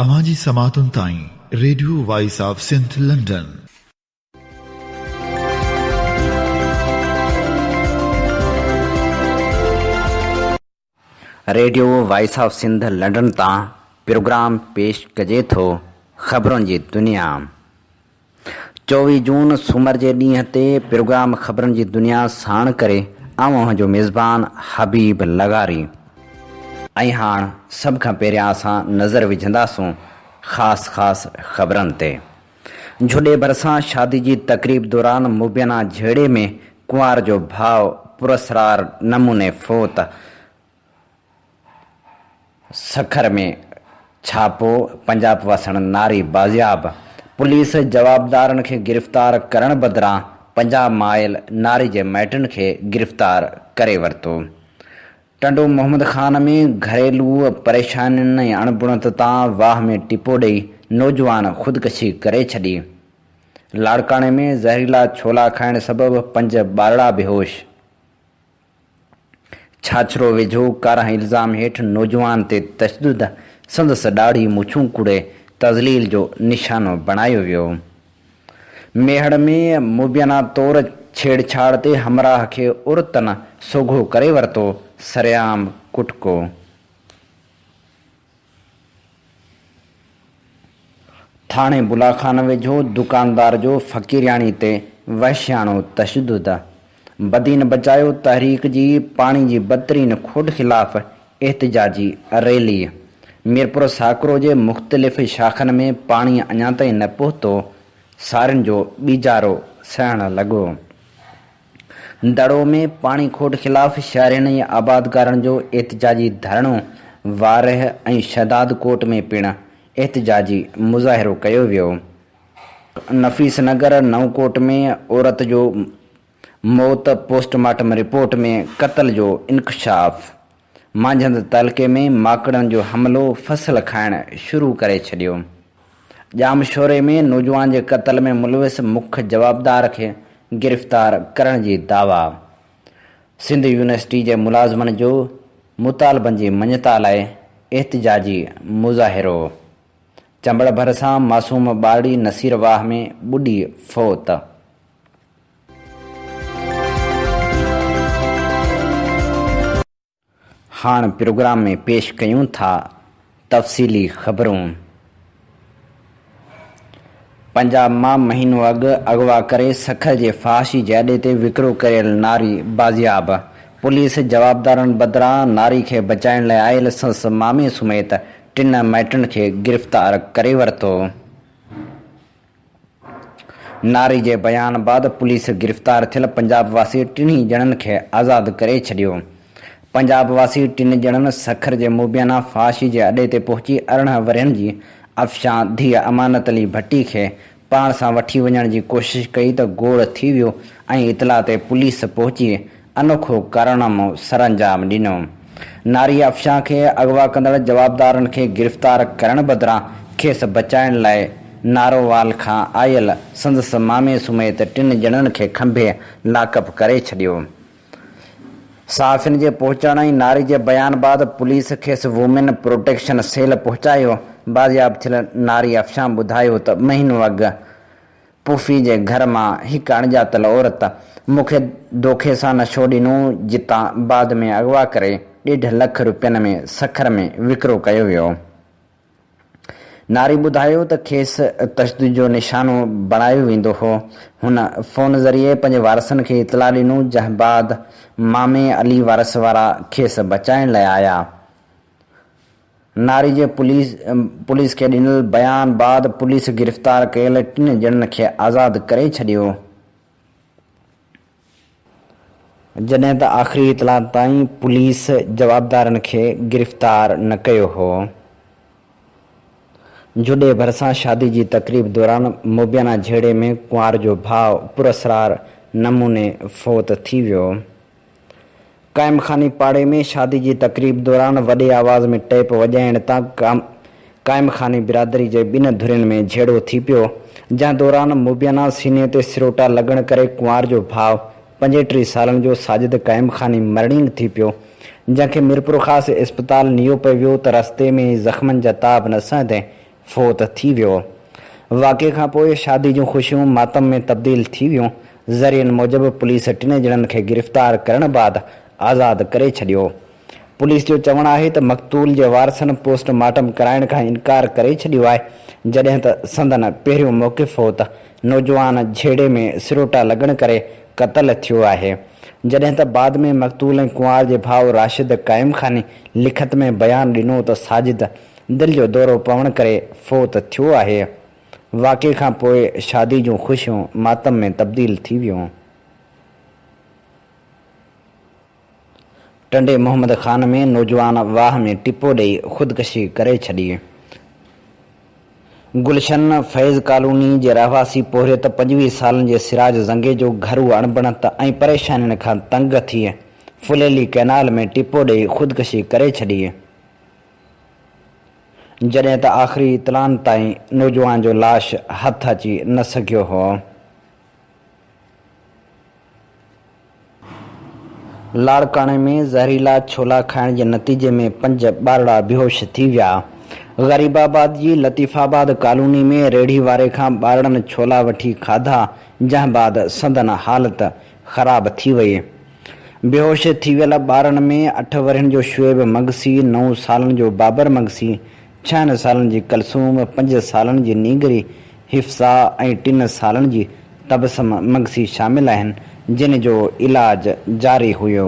اوهان جي سماعتن تائين radio voice of Sindh London. Radio voice of Sindh London تان پروگرام پيش ڪجي ٿو خبرن جي دنيا. چوويهه جون سومر جي ڏينهن تي پروگرام خبرن جي دنيا ساڻ ڪري آئون اوهان جو ميزبان حبيب لغاري. ۽ هاڻ سڀ کان پهريان اسان نظر وجهنداسون خاص خاص خبرن تي. جهوڏي ڀرسان شادي جي تقريب دوران مبينا جهيڙي ۾ ڪنوار جو ڀاء پراسرار نموني فوت، سکر ۾ ڇاپو، پنجاب وسڻ ناري بازياب، پوليس جوابدارن کي گرفتار ڪرڻ بدران پنجاب مائل ناري جي مائٽن کي گرفتار ڪري ورتو. ٽنڊو محمد خان ۾ گهريلو پريشانين ۽ اڻبڻت تان واهه ۾ ٽپو ڏئي نوجوان خودڪشي ڪري ڇڏي. لاڙڪاڻي ۾ زهريلا ڇولا کائڻ سبب پنج ٻارڙا بيهوش. ڇاڇرو ويجهو ڪارا الزام هيٺ نوجوان تي تشدد، سندس ڏاڙهي مڇون ڪوڙي تذليل جو نشانو بڻايو ويو. ميهڙ ۾ مبينا طور ڇيڙ ڇاڙ تي همراهه کي عورتن سوگهو ڪري ورتو، سرعام ڪٽڪو. ٿاڻي بلا خان ويجهو دڪاندار جو فقيرياڻي تي وحشياڻو تشدد، بدين بچايو تحريڪ جي پاڻي جي بدترين کوٽ خلاف احتجاجي ريلي، ميرپور ساڪرو جي مختلف شاخن ۾ پاڻي اڃا تائين نه پهتو، سارين جو ٻيجارو سهڻ لڳو. دڙو ۾ پاڻي کوٽ خلاف شهرين ۽ آبادگارن جو احتجاجي ڌرڻو، وارهه ۽ شهداد ڪوٽ ۾ پڻ احتجاجي مظاهرو ڪيو ويو، نفيس نگر نئون ڪوٽ ۾ عورت جو موت پوسٽ مارٽم رپورٽ ۾ قتل جو انڪشاف، مانجهند تعلقي ۾ ماڪڙن جو حملو فصل کائڻ شروع ڪري ڇڏيو، ڄامشوري ۾ نوجوان جي قتل ۾ ملوث مک جوابدار کي گرفتار ڪرڻ جي دعويٰ، سنڌ يونيورسٽي جي ملازمن جو مطالبن جي مڃتا لاء احتجاجي مظاهرو، چنبڙ ڀرسان معصوم ٻارڙي نصير واهه ۾ ٻڏي فوت. هاڻ پروگرام ۾ پيش ڪيون ٿا تفصيلي خبرون. پنجاب مان مهينو اڳ اغوا ڪري سکر جي فحاشي جي اڏي تي وڪرو ڪيل ناري بازياب، پوليس جوابدارن بدران ناري کي بچائڻ لاء آيل سس مامي سميت ٽن مائٽن کي گرفتار ڪري ورتو. ناري جي بيان بعد پوليس گرفتار ٿيل پنجاب واسي ٽنهي ڄڻن کي آزاد ڪري ڇڏيو. پنجاب واسي ٽن ڄڻن سکر جي موبيانا فحاشي جي اڏي تي پهچي ارڙهن ورهين جي افشان ڌيء امانت علي ڀٽي کي پاڻ سان وٺي وڃڻ جي ڪوشش ڪئي ته گوڙ ٿي ويو ۽ اطلاع تي پوليس پهچي انوکو ڪارنامو سرانجام ڏنو، ناري افشان کي اغوا ڪندڙ جوابدارن کي گرفتار ڪرڻ بدران کيس بچائڻ لاء نارووال کان آيل سندس مامي سميت ٽن ڄڻن کي کنڀي لاڪ اپ ڪري ڇڏيو، صحافين جي پهچڻ ۽ ناري جي بيان بعد پوليس کيس وومين پروٽيڪشن سيل پهچايو، بازياب ٿيل ناري افشان ٻڌايو ته مهينو اڳ پڦي جي گهر مان هڪ اڻڄاتل عورت مون کي دوکي سان نشو ڏنو جتان بعد ۾ اغوا ڪري ڏيڍ لک روپين ۾ سکر ۾ وڪرو ڪيو ويو. ناري ٻڌايو ته کيس تشدد جو نشانو بڻايو ويندو هو. هن فون ذريعي پنهنجي وارثن کي اطلاع ڏنو جنهن بعد مامي علي وارث وارا کيس بچائڻ لاء آيا. ناري جي پوليس کي ڏنل بيان بعد پوليس گرفتار ڪيل ٽن ڄڻن کي آزاد ڪري ڇڏيو. جڏهن ته آخري اطلاع تائين پوليس جوابدارن کي گرفتار نه ڪيو هو. جهوڏي ڀرسان شادي جي تقريب دوران مبينا جهيڙي ۾ ڪنوار جو ڀاء پراسرار نموني فوت ٿي ويو. قائم خاني پاڙي ۾ شادي جي تقريب دوران وڏي آواز ۾ ٽيپ وڄائڻ تان قائم خاني برادري جي ٻن ڌرين ۾ جهيڙو ٿي پيو، جنهن دوران مبينا سيني تي سروٽا لڳڻ ڪري ڪنوار جو ڀاء پنجيٽيهه سالن جو ساجد قائم خاني مرڻينگ ٿي پيو، جنهن کي ميرپورخاص اسپتال نيو پئي ويو ته رستي ۾ ئي زخمن جا تاب نه سهندي فوت ٿي ويو. واقعي کان پوء شادي جون خوشيون ماتم ۾ تبديل ٿي ويون. ذريعن موجب پوليس ٽنهي ڄڻن کي گرفتار ڪرڻ بعد آزاد ڪري ڇڏيو. پوليس جو چوڻ آهي ته مقتول جي وارثن پوسٽ مارٽم ڪرائڻ کان انڪار ڪري ڇڏيو آهي، جڏهن ته سندن پهريون موقف هو ته نوجوان جهيڙي ۾ سروٽا لڳڻ ڪري قتل ٿيو آهي، جڏهن ته بعد ۾ مقتول ۽ ڪنوار جي ڀاء راشد قائم خاني لکت ۾ بيان ڏنو ته ساجد دل جو دورو پوڻ ڪري فوت ٿيو آهي. واقعي کان پوء شادي جون خوشيون ماتم ۾ تبديل ٿي ويون. ٽنڊي محمد خان ۾ نوجوان واهه ۾ ٽپو ڏئي خودڪشي ڪري ڇڏي. گلشن فيض ڪالوني جي رهواسي پورهيت پنجويهه سالن جي سراج زنگيجو گهرو اڻبڻت ۽ پريشانين کان تنگ ٿي ڦليلي ڪئنال ۾ ٽپو ڏئي خودڪشي ڪري ڇڏي. جڏهن ته آخري اطلاعن تائين نوجوان جو لاش هٿ اچي نه سگهيو هو. لاڙڪاڻي ۾ زهريلا ڇولا کائڻ جي نتيجي ۾ پنج ٻارڙا بيهوش ٿي ويا. غريب آباد جي لطيف آباد ڪالوني ۾ ريڙهي واري کان ٻارڙن ڇولا وٺي کاڌا جنهن بعد سندن حالت خراب ٿي وئي. بيهوش ٿي ويل ٻارڙن ۾ اٺ ورهين جو شعيب مگسي، نو سالن جو بابر مگسي، ڇهن سالن جي ڪلثوم، پنج سالن جي نينگري، حفصا ۽ ٽن سالن جي تبسم مگسي شامل آهن، جن جو علاج جاري هيو.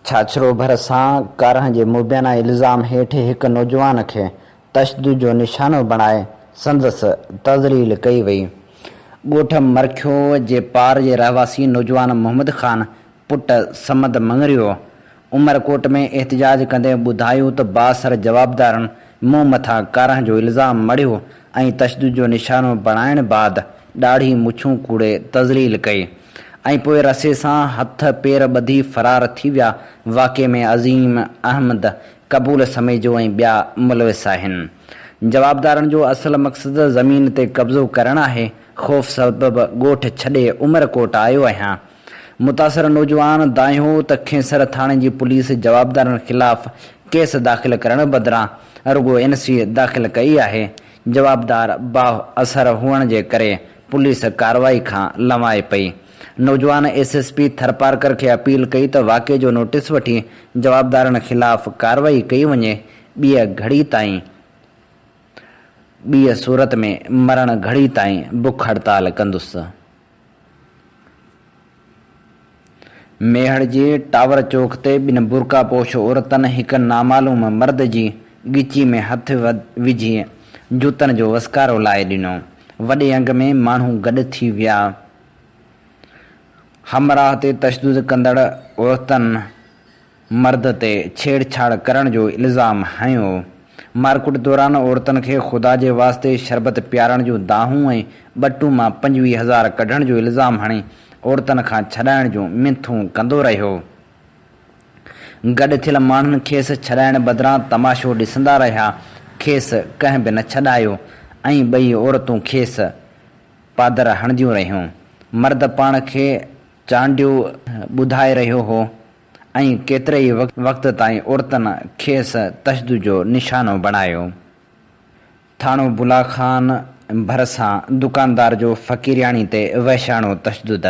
ڇاڇرو ڀرسان ڪارنهن جي مبينا الزام هيٺ هڪ نوجوان کي تشدد جو نشانو بڻائي سندس تذليل ڪئي وئي. ڳوٺ مرکيو جي پار جي رهواسي نوجوان محمد خان پٽ صمد مڱريو عمرڪوٽ ۾ احتجاج ڪندي ٻڌايو ته بااثر جوابدارن مون مٿان ڪارنهن جو الزام مڙهيو ۽ تشدد جو نشانو بڻائڻ بعد ڏاڙهي مڇون کوڙي تذليل ڪئي ۽ پوء رسي سان هٿ پير ٻڌي فرار ٿي ويا واقعي ۾ عظيم احمد قبول سميجو ۽ ٻيا ملوث آهن. جوابدارن جو اصل مقصد زمين تي قبضو ڪرڻ آهي، خوف سبب ڳوٺ ڇڏي عمرڪوٽ آيو آهيان. متاثر نوجوان دانهين هو ته کينسر ٿاڻي جي پوليس جوابدارن خلاف ڪيس داخل ڪرڻ بدران رڳو اين سي داخل ڪئي آهي، جوابدار بااثر هئڻ جي ڪري پوليس ڪارروائي کان لنوائي پئي. نوجوان ايس ايس پي ٿرپارڪر کي اپيل ڪئي ته واقعي جو نوٽيس وٺي جوابدارن خلاف ڪارروائي ڪئي وڃي، ٻيء گهڙي تائين ٻيء صورت ۾ مرڻ گهڙي تائين بک هڙتال ڪندس. ميهڙ جي ٽاور چوڪ تي ٻن برقعه پوش عورتن هڪ نامعلوم مرد جي ڳچي ۾ هٿ وجهي جوتن جو وسڪارو لائي ڏنو، وڏي انگ ۾ ماڻهو گڏ ٿي ويا، همراهه تي تشدد ڪندڙ عورتن مرد تي ڇيڙ ڇاڙ ڪرڻ جو الزام هنيو، مارڪوٽ دوران عورتن کي خدا جي واسطي شربت پيارڻ جون دانهون ۽ ٻٽون مان پنجويهه هزار ڪڍڻ جو الزام هڻي عورتن کان ڇڏائڻ جون منٿون ڪندو رهيو، گڏ ٿيل ماڻهن کيس ڇڏائڻ بدران تماشو ڏسندا رهيا، کيس ڪنهن به نه ڇڏايو ۽ ٻئي عورتون کيس. پادر هڻنديون رهيون. مرد پاڻ کي چانڊيو ٻڌائي رهيو هو ۽ ڪيتري ئي وقت تائين عورتن کيس تشدد جو نشانو بڻايو. ٿاڻو بلا خان ڀرسان دڪاندار جو فقيرياڻي تي وحشاڻو تشدد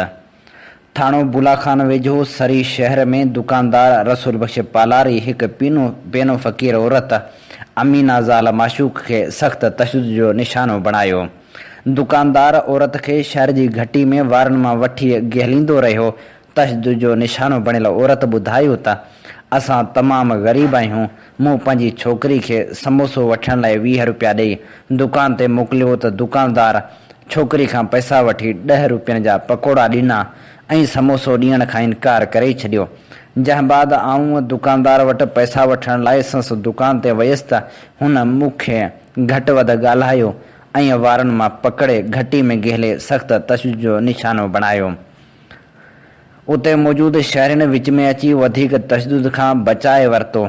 ٿاڻو بولا خان ويجهو سري شهر ۾ دڪاندار رسول بخش پالاري هڪ پينو پينو فقير عورت امينه زال معشوق کي سخت تشدد جو نشانو بڻايو. دڪاندار عورت کي شهر جي گهٽي ۾ وارن مان وٺي گهليندو رهيو. تشدد جو نشانو بڻيل عورت ٻڌايو ته اسان تمام غريب آهيون، مون پنهنجي ڇوڪري کي سموسو وٺڻ لاء ويهه روپيا ڏئي دڪان تي موڪليو ته دڪاندار ڇوڪري کان پئسا وٺي ڏهه روپين جا پڪوڙا ڏنا ۽ سموسو ڏيڻ کان انڪار ڪري ڇڏيو. جنهن بعد آئون دڪاندار وٽ پئسا وٺڻ لاء سنس دڪان تي ويس ته هن مون کي گهٽ وڌ ڳالهايو ۽ وارن مان پڪڙي گهٽي ۾ گهلي سخت تشدد جو نشانو بڻايو. اتي موجود شهرين وچ ۾ اچي وڌيڪ تشدد کان بچائي ورتو.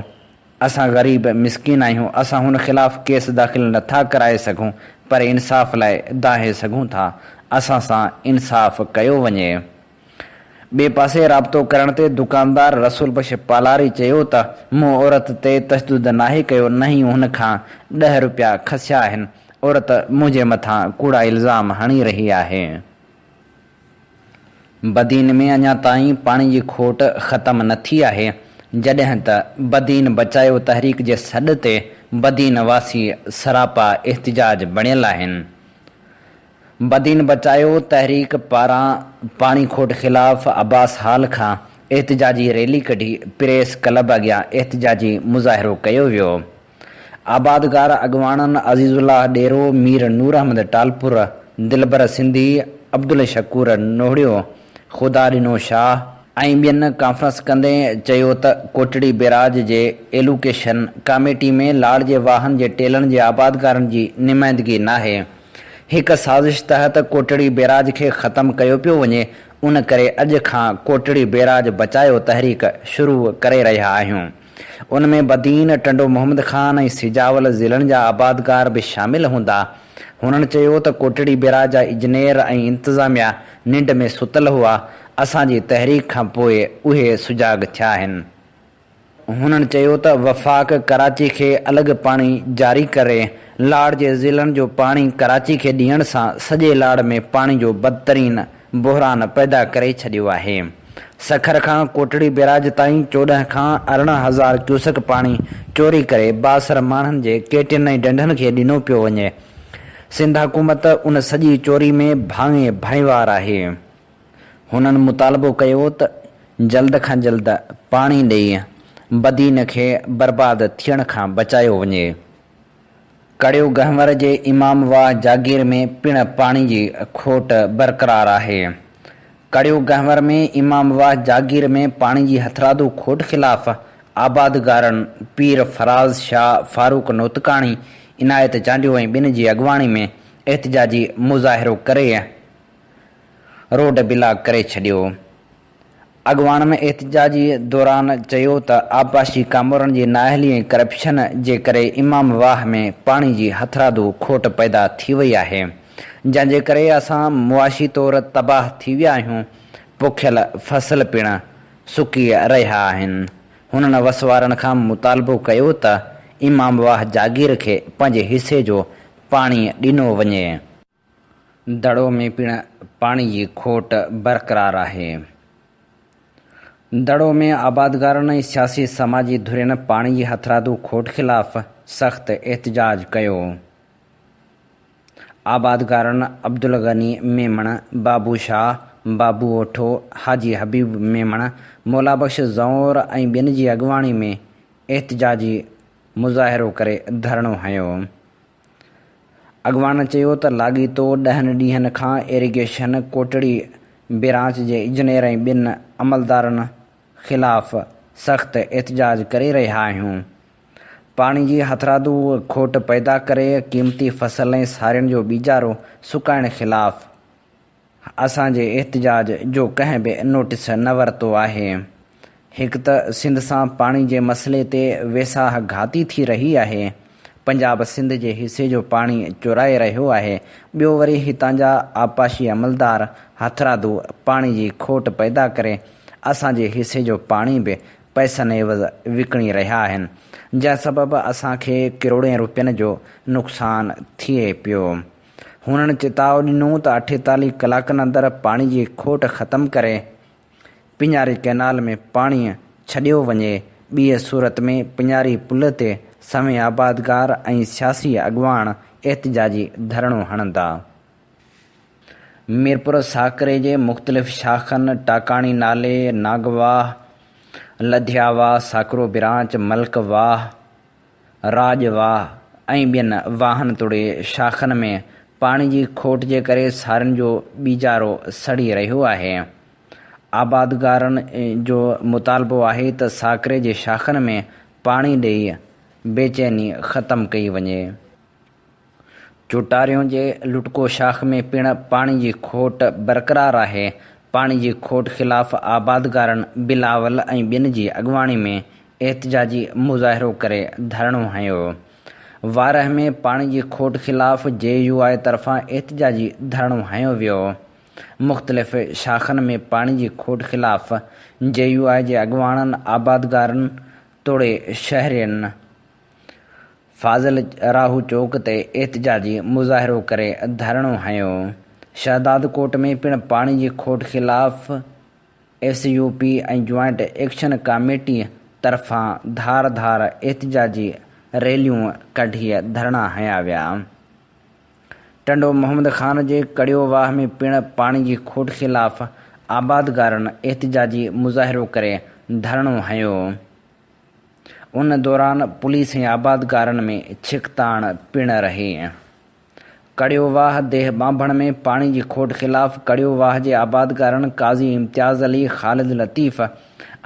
اسان غريب مسڪين آهيون، اسان هن خلاف ڪيس داخل نه ٿا ڪرائي سگهون پر انصاف لاء دانهي سگهون ٿا، اسان سان انصاف ڪيو وڃي. ٻئي پاسي رابطو ڪرڻ تي دڪاندار رسول بخش پالاري چيو ته مون عورت تي تشدد ناهي ڪيو نه ئي هن کان ڏهه روپيا کسيا آهن، عورت منهنجي مٿان ڪوڙا الزام هڻي رهي آهي. بدين ۾ اڃا تائين پاڻي جي کوٽ ختم نه ٿي آهي، جڏهن ته بدين بچايو تحريڪ جي سڏ تي بدين واسي سراپا احتجاج بڻيل آهن. بدين بچايو تحريڪ پاران پاڻي کوٽ خلاف عباس هال کان احتجاجي ريلي ڪڍي پريس ڪلب اڳيان احتجاجي مظاهرو ڪيو ويو. آبادگار اڳواڻن عزيز الله ڏيرو، مير نور احمد ٽالپر، دلبر سنڌي، عبدالشڪور نوڙيو، خدا ڏنو شاهه ۽ ٻين ڪانفرنس ڪندي چيو ته ڪوٽڙي بيراج جي ايلوڪيشن ڪاميٽي ۾ لاڙ جي واهن جي ٽيلن جي آبادگارن جي نمائندگي ناهي، هڪ سازش تحت ڪوٽڙي بيراج کي ختم ڪيو پيو وڃي، ان ڪري اڄ کان ڪوٽڙي بيراج بچايو تحريڪ شروع ڪري رهيا آهيون. ان ۾ بدين، ٽنڊو محمد خان ۽ سجاول ضلعن جا آبادگار به شامل هوندا. هنن چيو ته ڪوٽڙي بيراج جا اجنيئر ۽ انتظاميا ننڊ ۾ ستل هئا، اسان جي تحريڪ کان پوء اهي سجاڳ ٿيا آهن. هنن چيو ته وفاق ڪراچي کي الڳ پاڻي جاري ڪري، لاڙ جي ضلعن جو پاڻي ڪراچي کي ڏيڻ سان سڄي لاڙ ۾ پاڻي جو بدترين بحران پيدا ڪري ڇڏيو آهي. سکر کان ڪوٽڙي بيراج تائين چوڏهن کان ارڙهن هزار ڪيوسڪ پاڻي چوري ڪري بااثر ماڻهن جي ڪيٽين ۽ ڍنڍن کي ڏنو پيو وڃي. سنڌ حڪومت ان سڄي چوري ۾ ڀانئي ڀانئيوار آهي. هنن مطالبو ڪيو ته جلد کان جلد پاڻي ڏئي بدين کي برباد ٿيڻ کان بچايو وڃي. ڪڙيو گهنور جي امام واهه جاگير ۾ پڻ پاڻي جي کوٽ برقرار آهي. ڪڙيو گهنور ۾ امام واهه جاگير ۾ پاڻي جي هٿرادو کوٽ خلاف آبادگارن پير فراز شاهه، فاروق نوتڪاڻي، عنايت چانڊيو ۽ ٻين جي اڳواڻي ۾ احتجاجي مظاهرو ڪري روڊ بلاڪ ڪري ڇڏيو. اڳواڻ ۾ احتجاجي دوران چيو ته آبپاشي ڪامورن جي نااهلي ۽ ڪرپشن جي ڪري امام واهه ۾ پاڻي جي هٿرادو کوٽ پيدا ٿي وئي آهي جنهن جي ڪري اسان معاشي طور تباهه ٿي ويا آهيون پوکيل فصل پڻ سڪي رهيا آهن هنن وسوارن کان مطالبو ڪيو ته امام واهه جاگير کي پنهنجي حصي جو پاڻي ڏنو وڃي. دڙو ۾ پڻ پاڻي جي کوٽ برقرار آهي. دڙو ۾ آبادگارن ۽ سياسي سماجي ڌرين پاڻي جي هٿرادو کوٽ خلاف سخت احتجاج ڪيو. آبادگارن عبدالغني ميمڻ، بابو شاهه، بابو اوٺو، حاجي حبيب ميمڻ، مولا بخش زئور ۽ ٻين جي اڳواڻي ۾ احتجاجي مظاهرو ڪري ڌرڻو هنيو. اڳواڻ چيو ته لاڳيتو ڏهن ڏينهن کان ايريگيشن ڪوٽڙي برانچ جي انجنيئر ۽ ٻن عملدارن خلاف سخت احتجاج ڪري رهيا آهيون، پاڻي جي هٿرادو کوٽ پيدا ڪري قيمتي فصل ۽ سارين جو ٻيجارو سڪائڻ خلاف اسان جي احتجاج جو ڪنهن به نوٽيس نه ورتو آهي. هڪ ته سنڌ سان پاڻي جي مسئلي تي ويساهه گهاتي ٿي رهي آهي. پنجاب سنڌ جي حصي جو پاڻي چورائي رهيو آهي، ٻيو وري هتان جا آبپاشي عملدار هٿرادو پاڻي جي کوٽ پيدا ڪري اسان جي حصي جو پاڻي به پئسن عيوض وڪڻي رهيا آهن، جنهن سبب اسان کي ڪروڙين روپين جو نقصان ٿئي پيو. هنن چتاء ڏنو ته اٺيتاليهه ڪلاڪن اندر پاڻي جي کوٽ ختم ڪري پڃاري ڪئنال ۾ پاڻي ڇڏيو وڃي، ٻيء صورت ۾ پڃاري پل تي سوين آبادگار ۽ سياسي اڳواڻ احتجاجي ڌرڻو هڻندا. ميرپور ساڪري جي مختلف شاخن ٽاڪاڻي نالي، ناگواهه، لڌياواهه، ساڪرو برانچ، ملڪ واهه، راڄ واهه ۽ ٻين واهن توڙي شاخن ۾ پاڻي جي کوٽ جي ڪري سارين جو ٻيجارو سڙي رهيو آهي. آبادگارن جو مطالبو آهي ته ساڪري جي شاخن ۾ پاڻي ڏئي بيچيني ختم ڪئي وڃي. چوٽاريون جي لٽڪو شاخ ۾ پڻ پاڻي جي کوٽ برقرار آهي، پاڻي جي کوٽ خلاف آبادگارن بلاول ۽ ٻين جي اڳواڻي ۾ احتجاجي مظاهرو ڪري ڌرڻو هنيو، وارهه ۾ پاڻي جي کوٽ خلاف جي يو آء طرفان احتجاجي ڌرڻو هنيو ويو، مختلف شاخن ۾ پاڻي جي کوٽ خلاف جي يو آء جي اڳواڻن، آبادگارن توڙي شهرين فاضل راهو چوڪ تي احتجاجي مظاهرو ڪري ڌرڻو هنيو، شهدادڪوٽ ۾ پڻ پاڻي جي کوٽ خلاف S U P ۽ joint action committee طرفان ڌار ڌار احتجاجي ريليون ڪڍي ڌرڻا هنيا ويا، ٽنڊو محمد خان جي ڪڙيو واهه ۾ پڻ پاڻي جي کوٽ خلاف آبادگارن احتجاجي مظاهرو ڪري ڌرڻو هنيو. ان دوران پوليس ۽ آبادگارن ۾ ڇڪتاڻ پڻ رهي. ڪڙيو واهه ديهه ٻانڀڻ ۾ پاڻي جي کوٽ خلاف ڪڙيو واهه جي آبادگارن قاضي امتياز علي، خالد لطيف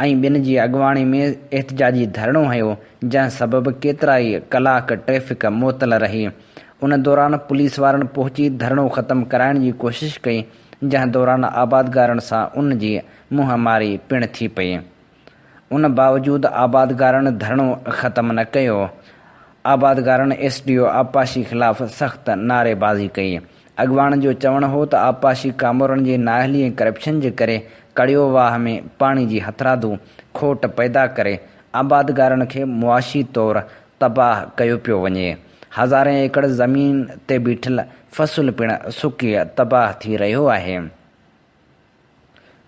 ۽ ٻين جي اڳواڻي ۾ احتجاجي ڌرڻو هنيو، جنهن سبب ڪيترائي ڪلاڪ ٽريفڪ معطل رهي. ان دوران پوليس وارن پهچي ڌرڻو ختم ڪرائڻ جي ڪوشش ڪئي، جنهن دوران آبادگارن سان ان جي منهن ماري پڻ ٿي پئي. ان باوجود آبادگارن ڌرڻو ختم نه ڪيو، آبادگارن ايس ڊي او آبپاشي خلاف سخت نعريبازي ڪئي، اڳواڻن جو چوڻ هو ته آبپاشي ڪامورن جي نااهلي ۽ ڪرپشن جي ڪري ڪڙيو واهه ۾ پاڻي جي هٿرادو کوٽ پيدا ڪري آبادگارن کي معاشي طور تباهه ڪيو پيو وڃي، هزارين ايڪڙ زمين تي بيٺل فصل پڻ سڪي تباهه ٿي رهيو آهي.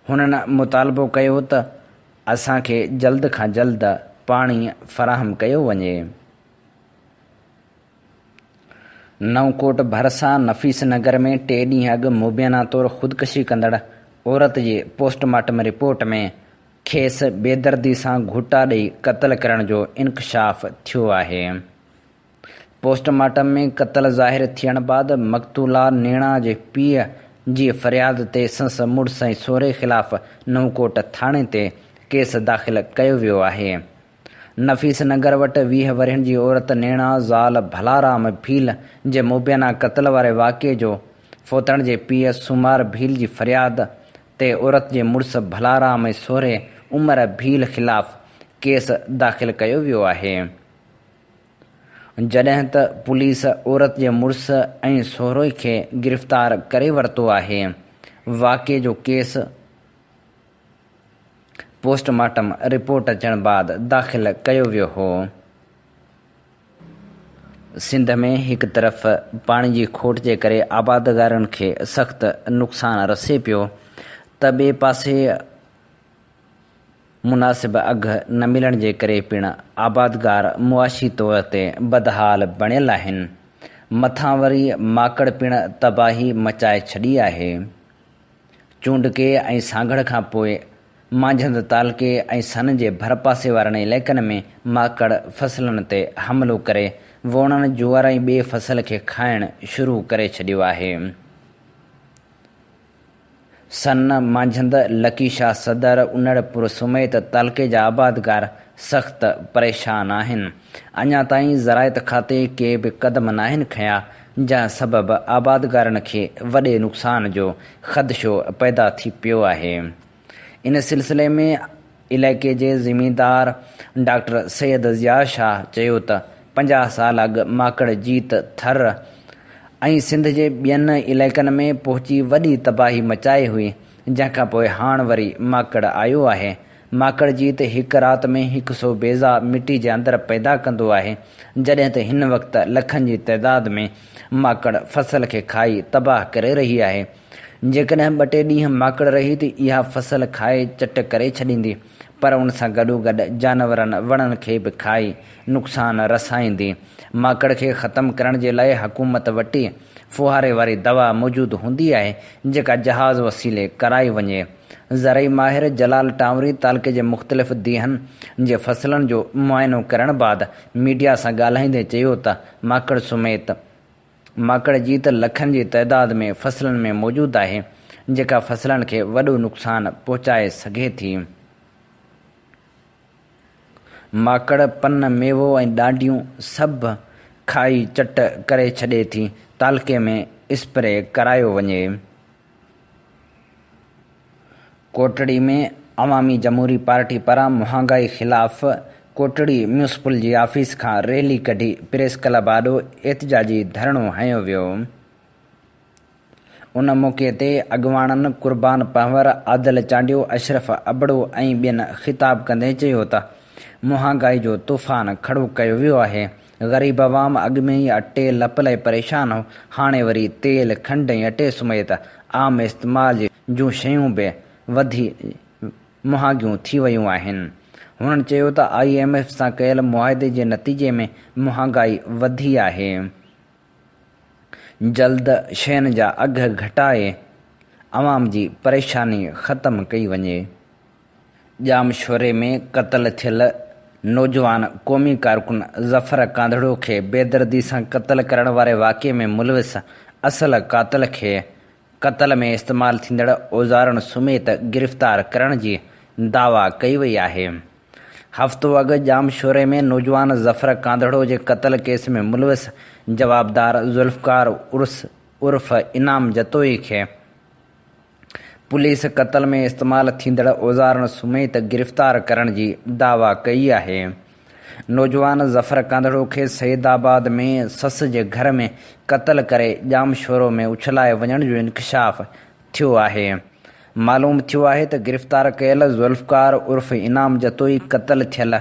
هنن مطالبو ڪيو ته اسان کي جلد کان جلد پاڻي فراهم ڪيو وڃي. نئون ڪوٽ ڀرسان نفيس نگر ۾ ٽي ڏينهن اڳ مبينا طور خودڪشي ڪندڙ عورت جي پوسٽ مارٽم رپورٽ ۾ کيس بيدردي سان گهوٽا ڏئي قتل ڪرڻ جو انڪشاف ٿيو آهي. پوسٽ مارٽم ۾ قتل ظاهر ٿيڻ بعد مقتولا نيڻا جي پيء جي فرياد تي سنس مڙس ۽ سهري خلاف نوڪوٽ ٿاڻي تي ڪيس داخل ڪيو ويو آهي. نفيس نگر وٽ ويهه ورهين جي عورت نيڻا زال ڀلارام ڀيل جي مبينا قتل واري واقعي جو فوتڻ جي پيء سومار ڀيل جي فرياد تي عورت جي مڙس ڀلارام ۽ سهري عمر ڀيل خلاف ڪيس داخل ڪيو ويو آهي. جڏهن ته پوليس عورت جي مڙس ۽ سهروئي کي گرفتار ڪري ورتو آهي. واقعي جو ڪيس پوسٽ مارٽم رپورٽ اچڻ بعد داخل ڪيو ويو هو. سنڌ ۾ هڪ طرف پاڻي جي کوٽ جي ڪري آبادگارن کي سخت نقصان رسي پيو ته ٻئي پاسي مناسب اگهه نه ملڻ جي ڪري پڻ آبادگار معاشي طور تي بدحال بڻيل آهن، مٿان وري ماڪڙ پڻ تباهي مچائي ڇڏي آهي. چونڊڪي ۽ سانگهڙ کان پوء مانجهند تعلقي ۽ سن جي ڀرپاسي وارن علائقن ۾ ماڪڙ فصلن تي حملو ڪري ووڻڻ، جوئر ۽ ٻئي فصل کي کائڻ شروع ڪري ڇڏيو آهي. سن مانجهند لڪي شاهه صدر، انڙپور سميت تعلقي جا آبادگار سخت پريشان آهن. اڃا تائين زراعت کاتي ڪي به قدم ناهن کنيا، جنهن سبب آبادگارن کي وڏي نقصان جو خدشو پيدا ٿي پيو آهي. ان سلسلي ۾ علائقي جي زميندار ڊاڪٽر سيد ضياء شاهه چيو ته پنجاهه سال اڳ ماڪڙ جيت ٿر ۽ سنڌ جي ٻين علائقن ۾ پهچي وڏي تباهي مچائي هئي جنهن کانپوء هاڻ وري ماڪڙ آيو آهي ماڪڙ جيت هڪ رات ۾ هڪ سو بيضا مٽي جي اندر پيدا ڪندو آهي جڏهن ته هن وقت لکن جي تعداد ۾ ماڪڙ فصل کي کائي تباهه ڪري رهي آهي جيڪڏهن ٻه ٽي ڏينهن ماڪڙ رهي ته اها فصل کائي چٽ ڪري ڇڏيندي پر ان سان گڏوگڏ جانورن وڻن کي به کائي نقصان رسائيندي. ماڪڙ کي ختم ڪرڻ جي لاء حڪومت وٽي ڦوهاري واري دوا موجود هوندي آهي جيڪا جهاز وسيلي ڪرائي وڃي. زرعي ماهر جلال ٽانوري تعلقي جي مختلف ديهن جي فصلن جو معائنو ڪرڻ بعد ميڊيا سان ڳالهائيندي چيو ته ماڪڙ سميت ماڪڙ جي ته لکن جي تعداد ۾ فصلن ۾ موجود آهي جيڪا فصلن کي وڏو نقصان پهچائي سگهي ٿي. ماڪڙ پن، ميوو ۽ ڏانڊيون سڀ کائي چٽ ڪري ڇڏي ٿي. تعلقي ۾ اسپري ڪرايو وڃي. ڪوٽڙي ۾ عوامي جمهوري پارٽي پاران مهانگائي خلاف ڪوٽڙي ميونسپل جي آفيس کان ريلي ڪڍي پريس ڪلب آڏو احتجاجي ڌرڻو هنيو ويو. ان موقعي تي اڳواڻن قربان پنهور، عادل چانڊيو، اشرف ابڙو ۽ ٻين خطاب ڪندي چيو ته مهانگائي جو طوفان کڙو ڪيو ويو آهي، غريب عوام اڳ ۾ ئي اٽي لپ لائي پريشان هو، هاڻي وري تيل، کنڊ ۽ اٽي سميت عام استعمال جون شيون به وڌي مهانگيون ٿي ويون آهن. هنن چيو ته آء ايم ايف سان ڪيل معاهدي جي نتيجي ۾ مهانگائي وڌي آهي، جلد شين جا اگهه گهٽائي عوام جي پريشاني ختم ڪئي وڃي. ڄامشوري ۾ قتل ٿيل نوجوان قومي ڪارڪن ظفر ڪانڌڙو کي بيدردي سان قتل ڪرڻ واري واقعي ۾ ملوث اصل قاتل کي قتل ۾ استعمال ٿيندڙ اوزارن سميت گرفتار ڪرڻ جي دعويٰ ڪئي وئي آهي. هفتو اڳ ڄامشوري ۾ نوجوان ظفر ڪانڌڙو جي قتل ڪيس ۾ ملوث جوابدار ذوالفقار عرس عرف انعام جتوئي کي، پوليس قتل ۾ استعمال ٿيندڙ اوزارن سميت گرفتار ڪرڻ جي دعويٰ ڪئي آهي. نوجوان ظفر ڪانڌڙو کي سيد آباد ۾ سس جي گهر ۾ قتل ڪري ڄامشورو ۾ اڇلائي وڃڻ جو انڪشاف ٿيو آهي. معلوم ٿيو آهي ته گرفتار ڪيل ذوالفقار عرف انعام جتوئي قتل ٿيل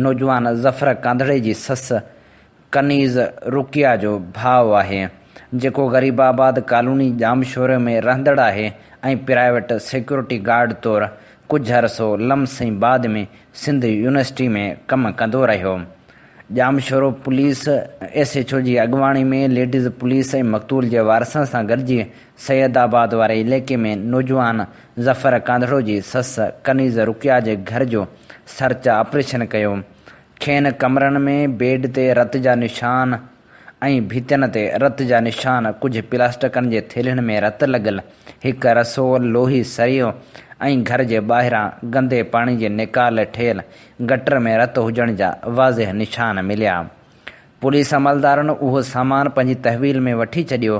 نوجوان ظفر ڪانڌڙي جي سس ڪنيز رقيه جو ڀاء آهي، جيڪو غريب آباد ڪالوني ڄامشوري ۾ رهندڙ آهي ۽ پرائيويٽ سيڪيورٽي گارڊ طور ڪجهه عرصو لمس ۽ بعد ۾ سنڌ يونيورسٽي ۾ ڪم ڪندو رهيو. Jamshoro police S H O جي اڳواڻي ۾ ليڊيز پوليس ۽ مقتول جي وارثن سان گڏجي سيد آباد واري عليقي ۾ نوجوان ظفر ڪانڌڙو جي سس ڪنيز رقيه جي گهر جو سرچ آپريشن ڪيو، کين ڪمرن ۾ بيڊ تي رت جا نشان ۽ ڀتين تي رت جا نشان، ڪجهه پلاسٽڪن جي ٿيلهين ۾ رت لڳل، هڪ رسول لوهي سريو ۽ گهر جي ٻاهران گندي پاڻي جي نيڪال ٺهيل گٽر ۾ رت هجڻ جا واضح نشان مليا. پوليس عملدارن اهو سامان پنهنجي تحويل ۾ وٺي ڇڏيو.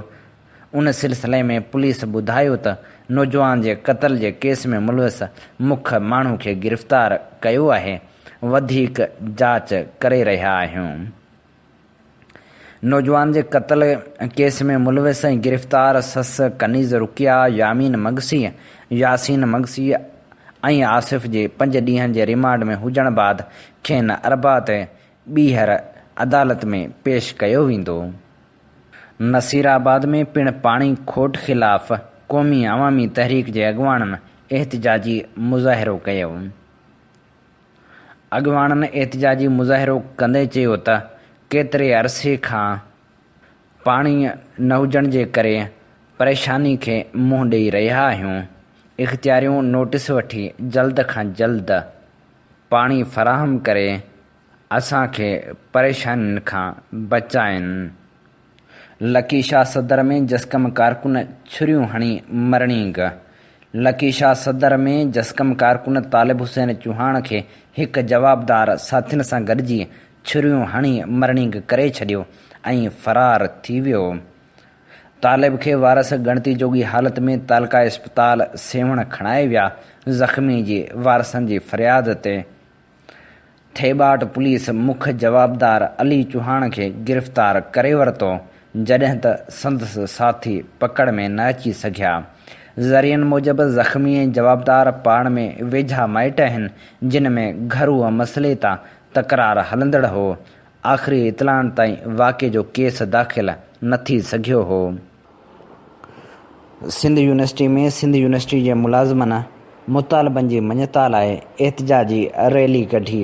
ان سلسلي ۾ پوليس ٻڌايو ته نوجوان جي قتل جي ڪيس ۾ ملوث مک ماڻهو کي گرفتار ڪيو آهي. وڌيڪ جاچ ڪري رهيا آهيون. نوجوان جي قتل ڪيس ۾ ملوث ۽ گرفتار سس ڪنيز رقيه، يامين مگسي، ياسين مگسي ۽ آصف جي پنج ڏينهن جي ريمانڊ ۾ هجڻ بعد کين اربع تي ٻيهر عدالت ۾ پيش ڪيو ويندو. نصيرآباد ۾ پڻ پاڻي کوٽ خلاف قومي عوامي تحريڪ جي اڳواڻن احتجاجي مظاهرو ڪيو. اڳواڻن احتجاجي مظاهرو ڪندي چيو ته ڪيتري عرصي کان پاڻي نه هجڻ جي ڪري پريشاني کي منهن ڏئي رهيا آهيون، اختياريون نوٽيس وٺي جلد کان جلد پاڻي فراهم ڪري اسان کي پريشانين کان بچائين. لڪي شاهه صدر ۾ جسقم ڪارڪن ڇريون هڻي مرڻينگ، لڪي شاهه صدر ۾ جسقم ڪارڪن طالب حسين چوهاڻ کي هڪ جوابدار ساٿين سان گڏجي ڇريون هڻي مرڻينگ ڪري ڇڏيو ۽ فرار ٿي ويو. طالب کي وارث ڳڻتي جوڳي حالت ۾ تعلقه اسپتال سيوهڻ کڻائي ويا، زخمي جي وارثن جي فرياد تي ٿيٻاٽ پوليس مک جوابدار علي چوهاڻ کي گرفتار ڪري ورتو، جڏهن ته سندس ساٿي پڪڙ ۾ نه اچي سگهيا. ذريعن موجب زخمي ۽ جوابدار پاڻ ۾ ويجها مائٽ آهن، جن ۾ گهرو مسئلي تان تڪرار هلندڙ هو. آخري اطلاعن تائين واقعي جو ڪيس داخل نه ٿي سگهيو هو. سنڌ يونيورسٽي ۾ سنڌ يونيورسٽي جي ملازمن مطالبن جي مڃتا لاء احتجاجي ريلي ڪڍي،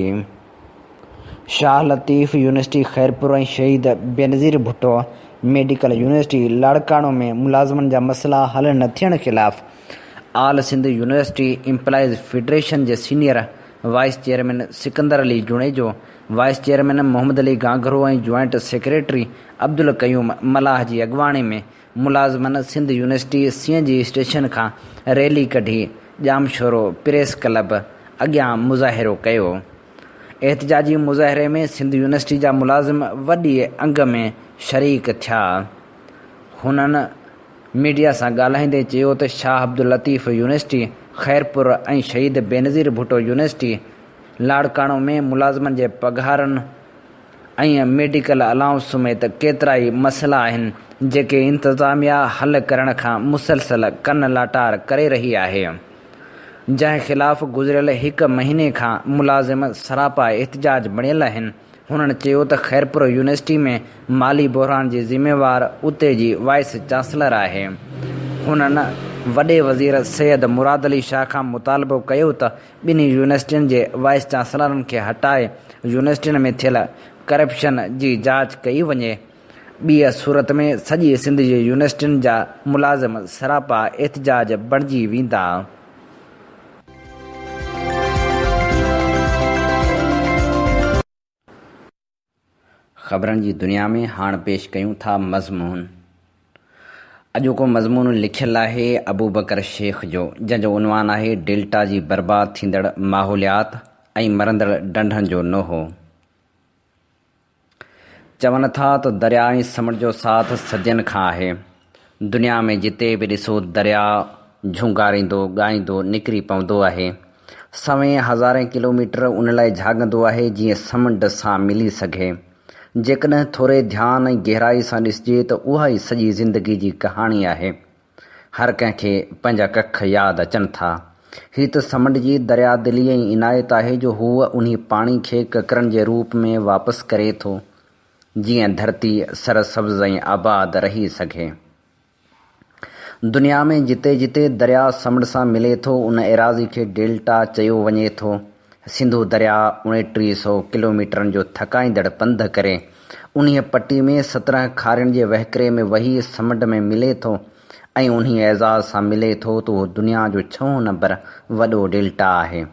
Shah Latif university Khairpur ۽ Shaheed Benazir Bhutto medical university Larkana ۾ ملازمن جا مسئلا حل نه ٿيڻ خلاف all Sindh university employees federation جي senior vice chairman Sikandar Ali Junejo, vice chairman Muhammad Ali Gangro ۽ joint secretary Abdul Qayyum Mallah جي اڳواڻي ۾ ملازمن سنڌ يونيورسٽي سين جي اسٽيشن کان ريلي ڪڍي ڄامشورو پريس ڪلب اڳيان مظاهرو ڪيو. احتجاجي مظاهري ۾ سنڌ يونيورسٽي جا ملازم وڏي انگ ۾ شريڪ ٿيا. هنن ميڊيا سان ڳالهائيندي چيو ته شاهه عبداللطيف يونيورسٽي خيرپور ۽ شهيد بينظير ڀٽو يونيورسٽي لاڙڪاڻو ۾ ملازمن جي پگهارن، ۽ ميڊيڪل الائونس سميت ڪيترائي مسئلا آهن جيڪي انتظاميا حل ڪرڻ کان مسلسل ڪن لاٽار ڪري رهي آهي جنهن خلاف گذريل هڪ مهيني کان ملازم سراپا احتجاج بڻيل آهن هنن چيو ته خيرپور يونيورسٽي ۾ مالي بحران جي ذميوار اتي جي وائيس چانسلر آهي هنن وڏي وزير سيد مراد علي شاهه کان مطالبو ڪيو ته ٻنهي يونيورسٽين جي وائيس چانسلرن کي هٽائي يونيورسٽين ۾ ٿيل ڪرپشن جي جاچ ڪئي وڃي. ٻيء صورت ۾ سڄي سنڌ جي يونيورسٽين جا ملازم سراپا احتجاج بڻجي ويندا. خبرن جي دنيا ۾ هاڻ پيش ڪيون ٿا مضمون. اڄوڪو مضمون لکيل آهي ابوبڪر شيخ جو جنهن جو عنوان آهي ڊيلٽا جي برباد ٿيندڙ ماحوليات ۽ مرندڙ ڊنڍن جو نوحو. چون ٿا ته درياء ۽ سمنڊ جو ساٿ صدين کان آهي. دنيا ۾ جتي به ڏسو درياء جهونگاريندو ڳائيندو نڪري پوندو آهي. سوين هزارين ڪلوميٽر ان لاء جهاڳندو آهي جيئن سمنڊ سان ملي سگهي. جيڪڏهن ٿوري ڌيان ۽ گهرائي سان ڏسجي ته اها ئي سڄي زندگي جي ڪهاڻي آهي. هر ڪنهن کي پنهنجا ڪک ياد اچن ٿا. هي ته سمنڊ جي دريا دلي ۽ عنايت آهي جو هو انهي پاڻي کي ڪڪرن جي روپ ۾ واپس ڪري ٿو. جيئن ڌرتي سرسبز ۽ آباد رهي سگهي. دنيا ۾ جتي جتي درياء سمنڊ سان ملي ٿو ان ايراضي کي ڊيلٽا چيو وڃي ٿو. سنڌو درياء اوڻيٽيهه سؤ ڪلوميٽرن جو ٿڪائيندڙ پنڌ ڪري انهيء پٽي ۾ سترهن کارين جي وهڪري ۾ وهي سمنڊ ۾ ملي ٿو ۽ انهيء اعزاز سان ملي ٿو ته اهو دنيا جو ڇهون نمبر وڏو ڊيلٽا آهي.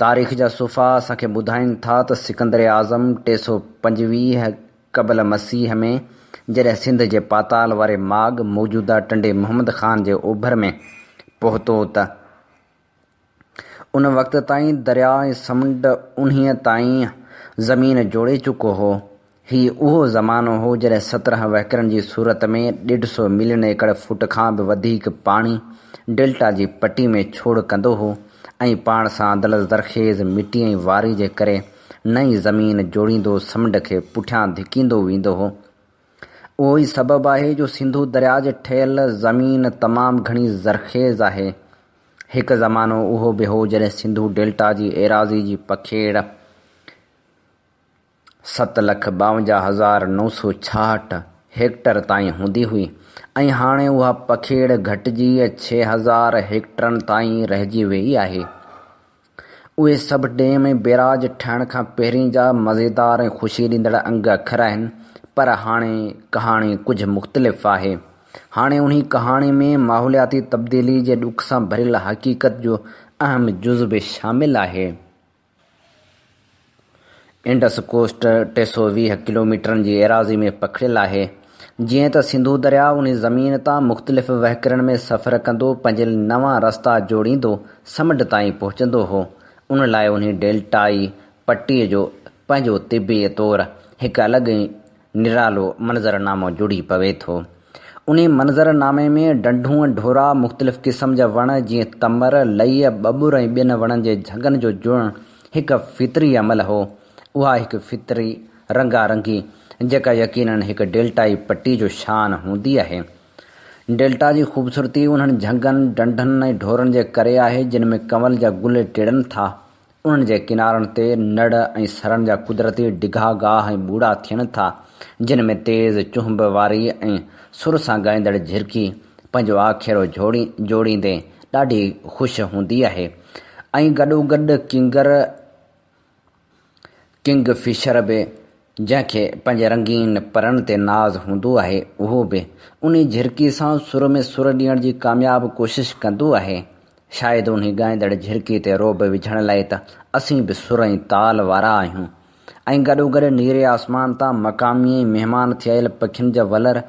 تاريخ جا صفحا اسان کي ٻڌائين ٿا ته سڪندر اعظم ٽي سؤ پنجويهه قبل مسيح ۾ جڏهن سنڌ جي پاتال واري ماڳ، موجوده ٽنڊي محمد خان جي اوڀر ۾، پهتو ته ان وقت تائين درياء ۽ سمنڊ انهيء تائين زمين جوڙي چڪو هو، هي اهو زمانو هو جڏهن سترهن وهڪرن جي صورت ۾ ڏيڍ سو ملين ايڪڙ فوٽ کان به وڌيڪ پاڻي ڊيلٽا جي پٽي ۾ ڇوڙ ڪندو هو ۽ پاڻ سان دلس زرخيز مٽي ۽ واري جي ڪري نئين زمين جوڙيندو سمنڊ کي پٺيان ڌڪيندو ويندو هو. اهو ئي سبب آهي جو سنڌو درياء جي ٺهيل زمين تمام گهڻي زرخيز آهي. هڪ زمانو اهو به هو جڏهن سنڌو ڊيلٽا جي ايراضي جي پکيڙ، ست لک ٻاونجاهه هزار نو سؤ ڇاهٺ هيڪٽر تائين هوندي هئي ۽ هاڻي اها پکيڙ گهٽجي ڇهه هزار هيڪٽرن تائين رهجي ويئي آهي. اهي سڀ ڊيم ۽ بيراج ٺهڻ کان پهرين جا مزيدار ۽ خوشي ڏيندڙ انگ اکر آهن پر هاڻي ڪهاڻي ڪجهه مختلف آهي. هاڻي انهي ڪهاڻي ۾ ماحولياتي تبديلي جي ڏک سان ڀريل حقيقت جو اهم جز به شامل آهي. انڊس ڪوسٽ ٽي سؤ ويهه ڪلوميٽرن جي ايراضي ۾ پکڙيل آهي. جيئن ته سنڌو درياء انهي زمين تان مختلف وهڪرن ۾ سفر ڪندو پنهنجي نوان رستا جوڙيندو سمنڊ تائين پهچندو هو، ان لاء انهي ڊيلٽائي پٽي جو پنهنجو طبعي طور هڪ الڳ نرالو منظرنامو جڙي پوي ٿو. انهي منظرنامي ۾ ڍنڍون، ڍورا، مختلف قسم جا وڻ جيئن تمر، لئي، ٻٻر ۽ ٻين وڻن جي جهڳن جو جڙڻ هڪ فطري عمل هو. اها هڪ فطري رنگا رنگي جيڪا يقينن هڪ ڊيلٽائي پٽي جو شان هوندي آهي. ڊيلٽا جي خوبصورتي انهن جهڳن، ڍنڍن ۽ ڍورن جي ڪري آهي جن ۾ ڪنول جا گل ٽڙن ٿا. انهن جي ڪنارن تي نڙ ۽ سرن جا قدرتي ڊگها گاهه ۽ ٻوڙا ٿين ٿا، جن ۾ تيز چهنب واري ۽ سر سان ڳائيندڙ جهرڪي پنهنجو آکيرو جوڙيندي ڏاڍي خوش هوندي آهي ۽ گڏوگڏ ڪينگر، Kingfisher، به جنهن کي پنهنجي رنگين پرڻ تي ناز هوندو آهي، اهو به انهي جهرڪي سان سر ۾ سر ڏيڻ جي ڪامياب ڪوشش ڪندو آهي. شايد انهي ڳائيندڙ جهرڪي تي رعب وجهڻ لاء ته اسين به سر ۽ تال وارا آهيون ۽ گڏوگڏ نيري آسمان تان مقامي ۽ مهمان ٿيل پکين جا ولر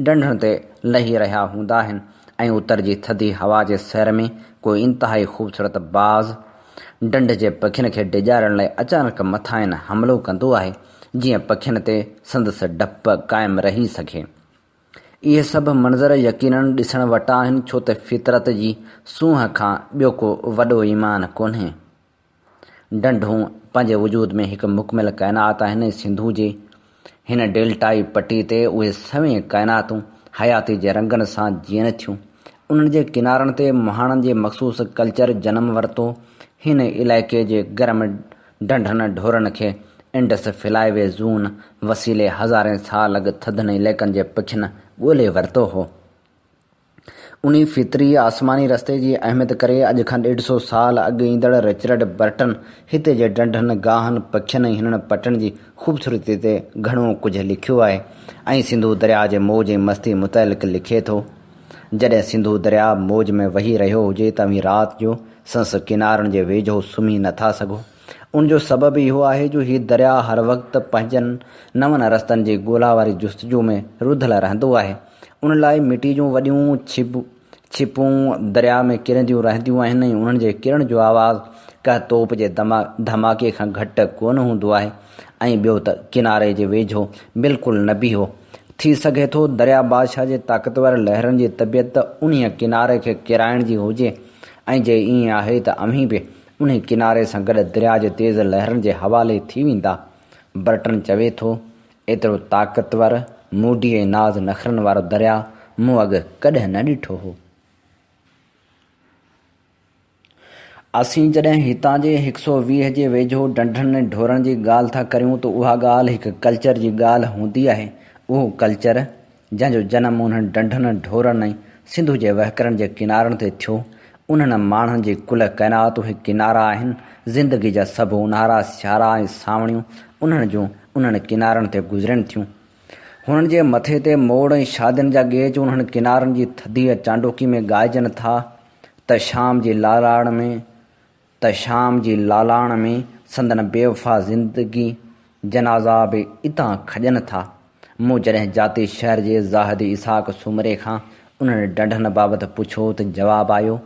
ڍنڍن تي لهي رهيا هوندا آهن ۽ اتر جي ٿڌي هوا جي سير ۾ ڪو انتهائي خوبصورت باز ڍنڍ جي پکين کي ڊيڄارڻ لاء اچانڪ مٿاهين حملو ڪندو آهي، جيئن پکين تي سندس ڊپ قائم رهي سگهي. اهي سڀ منظر يقيناً ڏسڻ وٽان آهن، ڇو ته فطرت جي سونهن کان ٻيو ڪو وڏو ايمان ڪونهي. ڍنڍون پنهنجي وجود ۾ هڪ مڪمل ڪائنات آهن ۽ سنڌو جي هن ڊيلٽائي پٽي تي اهي سوين ڪائناتون حياتي جي رنگن سان جيئن ٿيون. انهن جي ڪنارن تي مهاڻن جي مخصوص ڪلچر جنم ورتو. هن علائقي جي گرم ڍنڍن ڍورن کي انڊس فلائي وي زون وسيلي هزارين سال اڳ ٿڌن علائقن جي پکين ڳولي ورتو هو. انهي فطري آسماني رستي جي اهميت ڪري اڄ کان ڏيڍ سو سال اڳ ايندڙ رچرڊ برٽن هتي جي ڍنڍن، گاهن، پکين ۽ هنن پٽن جي خوبصورتي تي گهڻو ڪجهه لکيو آهي ۽ سنڌو درياء جي موج ۽ مستي متعلق لکي ٿو، جڏهن سنڌو درياء موج ۾ وهي رهيو هجي ته اوهين رات جو سنس ڪنارن جي ويجهو سمهي نه ٿا سگهو. ان جو سبب اهو آهي جو هي درياء هر وقت پنهنجن نون رستن جي ڳولا واري جستجو ۾ رڌل رهندو آهي ۽ ان لاء مٽيء جون وڏيون ڇپون درياء ۾ ڪرنديون رهنديون آهن ۽ انهن جي ڪرڻ جو آواز ڪنهن توپ جي ڌماڪي کان گهٽ ڪونه هوندو آهي ۽ ٻيو ته ڪناري جي ويجهو بلڪل نه بيهو. ٿي سگهي ٿو درياء بادشاهه جي طاقتور لهرن جي طبيعت انهيء ڪناري کي ڪيرائڻ جي هجي ۽ جي ائين آهي ته اوهين به انهي ڪناري سان گڏ درياء جي تيز لهرن جي حوالي ٿي ويندا. برٽن چوي ٿو، ايترو طاقتور، موڊي ۽ ناز نخرن وارو درياء مون اڳ ڪڏهن نه ڏٺو هو. اسين جڏهن هتان جي هڪ سؤ ويهه جي ويجهو ڍنڍن ۽ ڍورن جي ڳالهه ٿا ڪريون ته اها ڳالهه هڪ ڪلچر جي ڳالهه هوندي آهي. اهو ڪلچر. جنهن جو جنم انهن ڊنڍن، ڍورن ۽ سنڌو جي وهڪرن جي ڪنارن تي ٿيو. انهن ماڻهن جي ڪل ڪائنات اهي ڪنارا آهن. زندگي جا سڀ اونهارا، سيارا ۽ سانوڻيون انهن جون انهن ڪنارن تي گذرين ٿيون. هنن جي مٿي تي موڙ ۽ شادين جا ڳيچ انهن ڪنارن جي ٿڌيء چانڊوڪي ۾ ڳائجن ٿا ته شام جي لالاڻ ۾ ته شام جي لالاڻ ۾ سندن بيوفا زندگي جنازا به اتان کڄن ٿا. مون جڏهن جاتي شهر جي زاهد اسحاق سومري کان انهن ڍنڍن بابت پڇيو ته جواب آيو،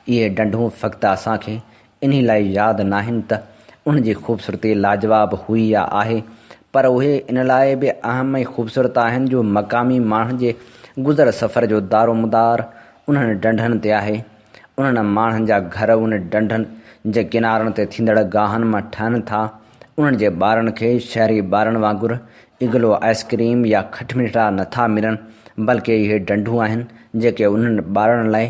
اهي ڍنڍون فقط اسان کي انهي لاء ياد ناهن ته انهن جي خوبصورتي لاجواب هئي يا آهي، پر اهي ان لاء به اهم ۽ خوبصورت آهن جو مقامي ماڻهن جي گذر سفر جو دارومدار انهن ڍنڍن تي آهي. انهن ماڻهن جا گهر ان ڍنڍن جي ڪنارن تي ٿيندڙ گاهن مان ٺهن ٿا. انهن جي ٻارن کي شهري ٻارن وانگر اگلو آئس ڪريم يا کٽمٺڙا نه ٿا ملن، بلڪ اهي ڍنڍون آهن، جيڪي انهن ٻارڙن لاء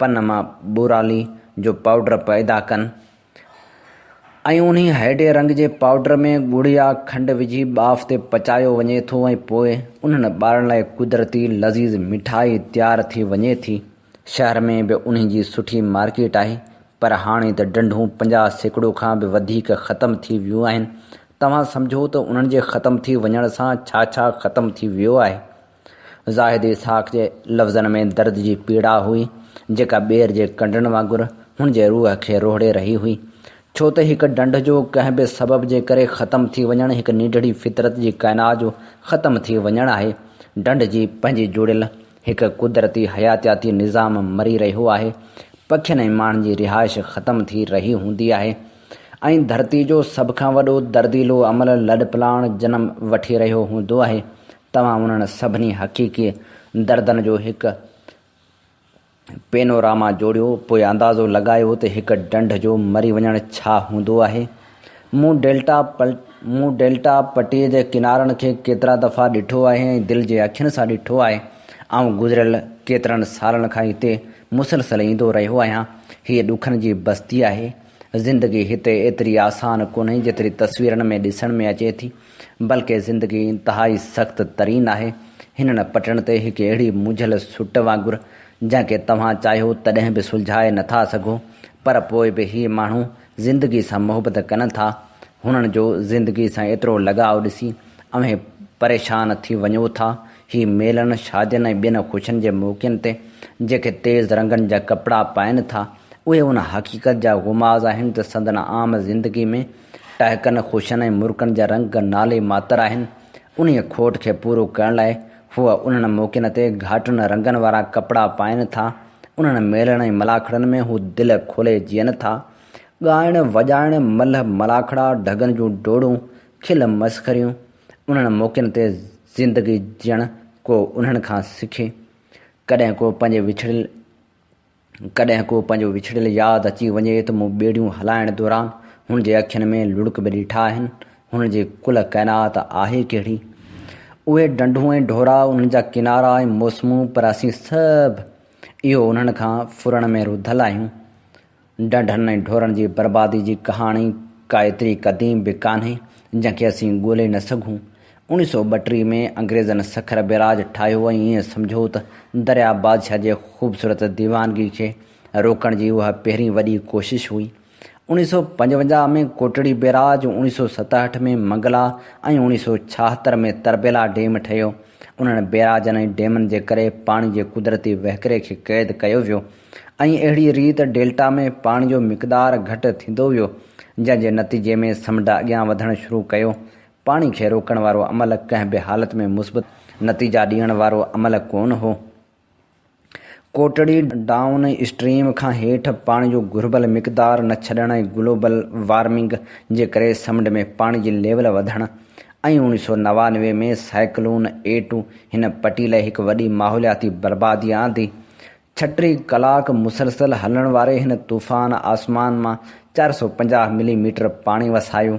پن مان ٻورالي جو پائوڊر پئدا ڪن ۽ انهي هيڊي رنگ جي پائوڊر ۾ ڳڙ يا کنڊ وجهي ٻاڦ تي پچايو وڃي ٿو ۽ پوء انهن ٻارن لاء قدرتي لذيذ مٺائي تيار ٿي وڃي ٿي. شهر ۾ به انهي جي سٺي مارڪيٽ آهي پر هاڻي ته ڊنڍون پنجاهه سيڪڙو کان به وڌيڪ ختم ٿي ويون آهن. توهان سمجهو ته انهن جي ختم ٿي وڃڻ سان ڇا ڇا ختم ٿي ويو آهي. زاهد اسحاق جي لفظن ۾ درد جي پيڙا هئي، جيڪا ٻير جي ڪنڊن وانگر هن جي روح کي روهڙي رهي هئي. ڇو ته هڪ ڍنڍ جو ڪنهن به سبب جي ڪري ختم ٿي وڃڻ هڪ ننڍڙي فطرت جي ڪائنات جو ختم ٿي وڃڻ آهي. ڍنڍ جي پنهنجي جوڙيل هڪ قدرتي حياتياتي نظام مري رهيو آهي. پکين ۽ ماڻهن جي رهائش ختم ٿي رهي هوندي آهي ۽ ڌرتي جو سڀ کان وڏو درديلو عمل لڏپلاڻ جنم وٺي رهيو هوندو آهي. توهان انهن سڀني حقيقي دردن جو هڪ پينوراما جوڙيو، پوء اندازو لڳايو ته هڪ ڍنڍ جو مري وڃڻ ڇا هوندو آهي. مون ڊيلٽا مون ڊيلٽا پٽيء جي ڪنارن کي ڪيترا دفعا ڏٺو آهي ۽ دل جي اکين سان ڏٺو آهي. آئون گذريل ڪيترن سالن کان هتي مسلسل ايندو رهيو آهيان. هيء ڏکن جي بستي آهي. زندگي هتي ايتري آسان ڪونهي، جيتري تصويرن ۾ ڏسڻ ۾ اچي ٿي. بلڪه زندگي انتهائي سخت ترين آهي. هنن پٽڻ تي هڪ اهڙي منجهيل سٽ وانگر، جنهن کي توهان چاهيو تڏهن به سلجهائي نه ٿا سگهو. پر پوء به هي ماڻهو زندگي سان محبت ڪن ٿا. هنن جو زندگي سان ايترو لڳاء ڏسي اوهين پريشان ٿي وڃو ٿا. هي ميلن، شادين ۽ ٻين خوشين جي موقعن تي جيڪي تيز رنگن جا ڪپڙا پائين ٿا، اهي ان حقيقت جا غماز آهن ته سندن عام زندگي ۾ ٽهڪن، خوشن ۽ مرڪن جا رنگ نالي ماتر آهن. انهيء کوٽ کي پورو ڪرڻ لاء هو انهن موقعن تي گهاٽن رنگن وارا ڪپڙا پائين ٿا. انهن ميلن ۽ ملاکڙن ۾ هو دل کولي جيئن ٿا. ڳائڻ، وڄائڻ، ملهه ملاکڙا، ڍڳن جون ڊوڙون، کل مسخريون، انهن موقعن تي زندگي جيئڻ ڪو انهن کان سکي. ڪڏهن ڪو پنهنجي وڇڙيل. ڪڏهن ڪو پنهنجو وڇڙيل ياد اچي وڃي ته مون ٻيڙيون هلائڻ دوران هن جي اکين ۾ لڙڪ به ڏٺا آهن. هن جي ڪل ڪائنات آهي ڪهڙي؟ اهي ڍنڍون ۽ ڍورا، انهن جا ڪنارا ۽ موسمون پر اسين سڀ اهو انهن کان ڦرڻ ۾ رڌل آهيون. ڍنڍن ۽ ڍورن جي بربادي جي ڪهاڻي ڪا ايتري قديم به ڪانهي جنهن کي اسين ڳولي نه سگهون. اڻيهه سؤ ٻٽيهه ۾ انگريزن سکر بئراج ٺاهيو ۽ ايئن سمجهو ته درياء بادشاهه جي خوبصورت ديوانگي کي روڪڻ جي اها پهرين وڏي ڪوشش هئي. اڻيهه سؤ پنجونجاهه ۾ ڪوٽڙي بئراج، اڻيهه سؤ ستهٺ ۾ منگلا ۽ اڻيهه سؤ ڇاهتر ۾ تربيلا ڊيم ٺهيو. انهن بئراجن ۽ ڊيمن جي ڪري پاڻي جي قدرتي وهڪري کي قيد ڪيو ويو ۽ اهڙيء ريت ڊيلٽا ۾ پاڻي جو مقدار گهٽ ٿيندو ويو، جنهن جي نتيجي ۾ سمنڊ اڳيان وڌڻ شروع ڪيو. پاڻي کي روڪڻ وارو عمل ڪنهن به حالت ۾ مثبت نتيجا ڏيڻ وارو عمل ڪونه هو. ڪوٽڙي ڊائون اسٽريم کان هيٺ پاڻي جو گهربل مقدار نه ڇڏڻ ۽ گلوبل وارمنگ جي ڪري سمنڊ ۾ پاڻي جي ليول وڌڻ ۽ اوڻيهه سؤ نوانوي ۾ سائيڪلون ايٽو هن پٽي لاء هڪ وڏي ماحولياتي بربادي آندي، ڇهه ٽي ڪلاڪ مسلسل هلڻ واري هن طوفان آسمان مان چار سؤ پنجاهه ملي ميٽر پاڻي وسايو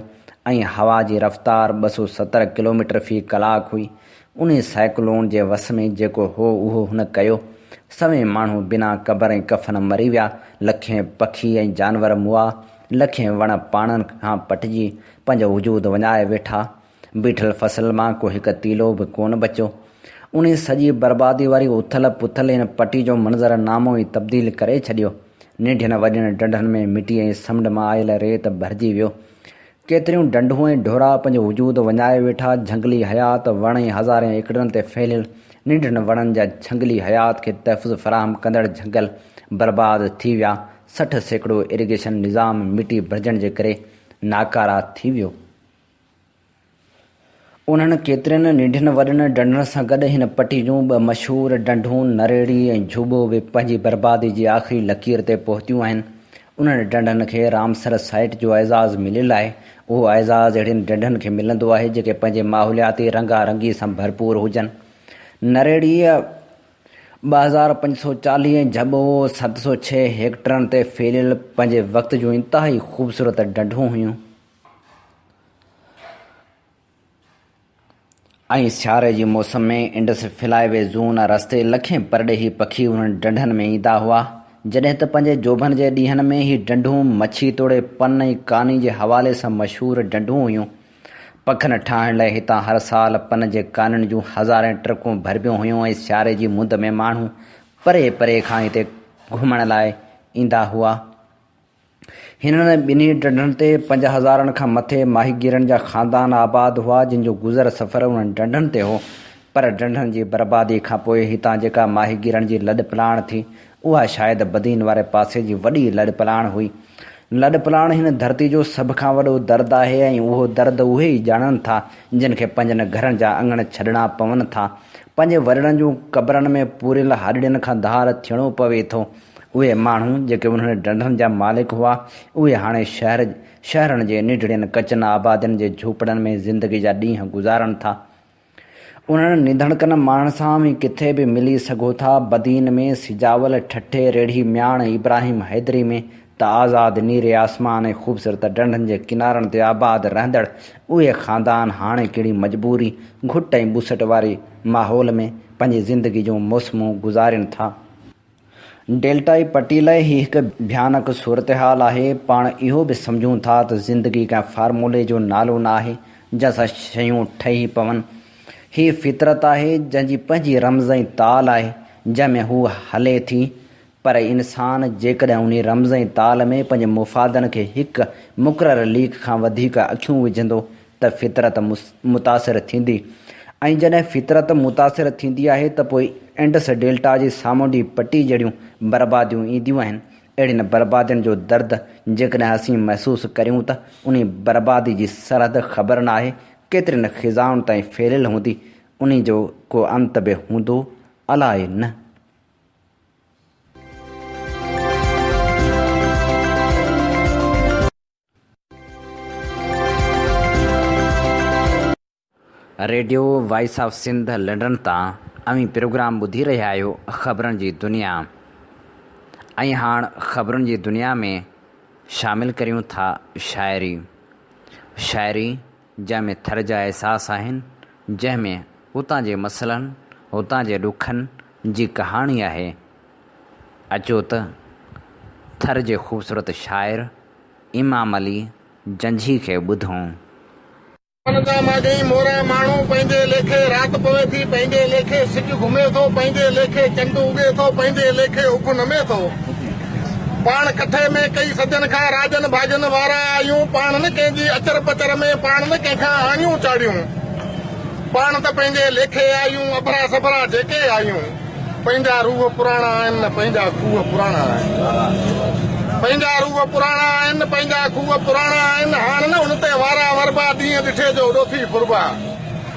۽ هوا جي رفتار ٻه سؤ ستر ڪلوميٽر في ڪلاڪ هئي. انهي سائيڪلون جي وس ۾ جيڪو هو اهو هن ڪيو. سوين ماڻهو بنا قبر ۽ ڪفن مري ويا، لکين پکي ۽ جانور مئا، لکين وڻ پاڻن کان پٽجي پنهنجو وجود وڃائي ويٺا. بيٺل فصل مان ڪو هڪ تيلو به ڪونه بچيو. انهي سڄي بربادي واري اٿل پٿل هن پٽي جو منظر نامو ئي تبديل ڪري ڇڏيو. ننڍين وڏين ڍنڍن ۾ مٽي ۽ سمنڊ مان آيل ريت ڀرجي ويو. ڪيتريون ڍنڍون ۽ ڍورا پنهنجو وجود وڃائي ويٺا، جهنگلي حيات، وڻ ۽ هزارين ايڪڙن تي ڦهليل ننڍڙن وڻن جا جهنگلي حيات کي تحفظ فراهم ڪندڙ جهنگل برباد ٿي ويا، سٺ سيڪڙو اريگيشن نظام مٽي ڀرجڻ جي ڪري ناڪارا ٿي ويو. انهن ڪيترين ننڍين وڏين ڍنڍن سان گڏ هن پٽي جون ٻه مشهور ڍنڍون نريڙي ۽ جهوٻو به پنهنجي بربادي جي آخري لڪير تي پهتيون آهن. انهن ڍنڍن کي رامسر سائيٽ جو اعزاز مليل آهي. اهو اعزاز اهڙين ڍنڍن کي ملندو آهي جيڪي پنهنجي ماحولياتي رنگا رنگي سان ڀرپور هجن. نريڙيء ٻه هزار پنج سؤ چاليهه ۽ جهوٻو ست سؤ ڇهه هيڪٽرن تي ڦهليل پنهنجي وقت جون انتهائي خوبصورت ڍنڍون هيون. ائين سياري جي موسم ۾ انڊس فلاء وي زون رستي لکين پرڏيهي پکي انهن ڍنڍن ۾ ايندا هئا، جڏهن ته پنهنجي جوڀن جي ڏينهن ۾ هي ڍنڍون مڇي توڙي پن ۽ ڪاني جي حوالي سان مشهور ڍنڍون هيون. پکن ٺاهڻ لاء هتان هر سال پن جي ڪانين جون هزارين ٽرڪون ڀربيون هيون ۽ سياري جي مند ۾ ماڻهو پري پري کان هتي گهمڻ لاء ايندا هئا. هنن ٻنهي ڍنڍن تي پنج هزارن کان مٿي ماهيگيرن جا خاندان آباد هئا، جن جو گذر سفر انهن ڍنڍن تي هو، پر ڍنڍن جي بربادي کان پوء هتان جيڪا ماهيگيرن جي لڏپلاڻ ٿي، اها شايد بدين واري پاسي جي وڏي لڏپلاڻ هئي. لڏپلاڻ هن ڌرتي جو سڀ کان وڏو درد آهي ۽ اهو درد اهي ئي ڄاڻن ٿا، جن کي پنهنجن گهرن جا اڱڻ ڇڏڻا پون ٿا، پنهنجي وڏڙن جون قبرن ۾ پوريل هڏڙين کان ڌار ٿيڻو پوي ٿو. اهي ماڻهو جيڪي انهن ڍنڍن جا مالڪ هئا، اهي هاڻي شهر، شهرن جي ننڍڙين ڪچن آبادين جي جهوپڙن ۾ زندگي جا ڏينهن گذارن ٿا. انهن نڌڻڪن ماڻهن سان اوهين ڪٿي به ملي سگهو ٿا، بدين ۾، سجاول، ٺٽي، ريڙهي، مياڻ، ابراهيم حيدري ۾ ته آزاد نيري آسمان ۽ خوبصورت ڍنڍن جي ڪنارن تي آباد رهندڙ اهي خاندان هاڻي ڪهڙي مجبوري، گهٽ ۽ ٻوسٽ واري ماحول ۾ پنهنجي زندگي جون موسمون گذارين ٿا. ڊيلٽائي پٽي لاء هي هڪ ڀيانڪ صورتحال آهي. پاڻ اهو به سمجهون ٿا ته زندگي ڪنهن فارمولي جو نالو نه آهي، جنهن سان شيون ٺهي پون. هي فطرت آهي، جنهن جي پنهنجي رمز ۽ تال آهي، جنهن ۾ هوء هلي ٿي. پر انسان جيڪڏهن انهي رمز ۽ تال ۾ پنهنجي مفادن کي هڪ مقرر ليڪ کان وڌيڪ اکيون وجهندو ته فطرت متاثر ٿيندي ۽ جڏهن فطرت متاثر ٿيندي آهي ته پوء انڊس ڊيلٽا جي سامونڊي پٽي جهڙيون برباديون اينديون آهن. اهڙين بربادين جو درد جيڪڏهن اسين محسوس ڪريون ته انهي بربادي جي سرحد خبر نه آهي ڪيترين خزائن تائين ڦهليل هوندي، انهي جو ڪو انت به هوندو؟ الاء نه. Radio voice of Sindh London تان اوهين پروگرام ٻڌي رهيا آهيو خبرن جي دنيا ۽ هاڻ خبرن جي دنيا ۾ شامل ڪريون ٿا شاعري شاعري جنهن ۾ ٿر جا احساس آهن، جنهن ۾ اتان جي مسئلن، اتان جي ڏکن جي ڪهاڻي آهي. اچو ته ٿر جي خوبصورت شاعر امام علي جنجهي کي ٻڌون. ڪن ڪا ماڳهين مورا ماڻهو، پنهنجي ليکي رات پوي ٿي، پنهنجي ليکي سج گهمي ٿو، پنهنجي ليکي چنڊ اگهي ٿو، پنهنجي ليکي اک نمي ٿو. پاڻ ڪٺي ۾ ڪئي صدين کان راڄن ڀاڄن وارا آهيون پاڻ نه ڪنهن جي اچر پچر ۾ پاڻ نه ڪنهن کان آڱيون چاڙهيون پاڻ ته پنهنجي ليکي آهيون اڀرا سڀرا جيڪي آهيون پنهنجا روح پراڻا آهن نه پنهنجا کوهه پراڻا آهن پنهنجا روح پراڻا آهن نه پنهنجا کوهه پراڻا آهن هاڻ نه ان تي وارا وربا ڏينهن ڏٺي جو اڏو ٿي ڦربا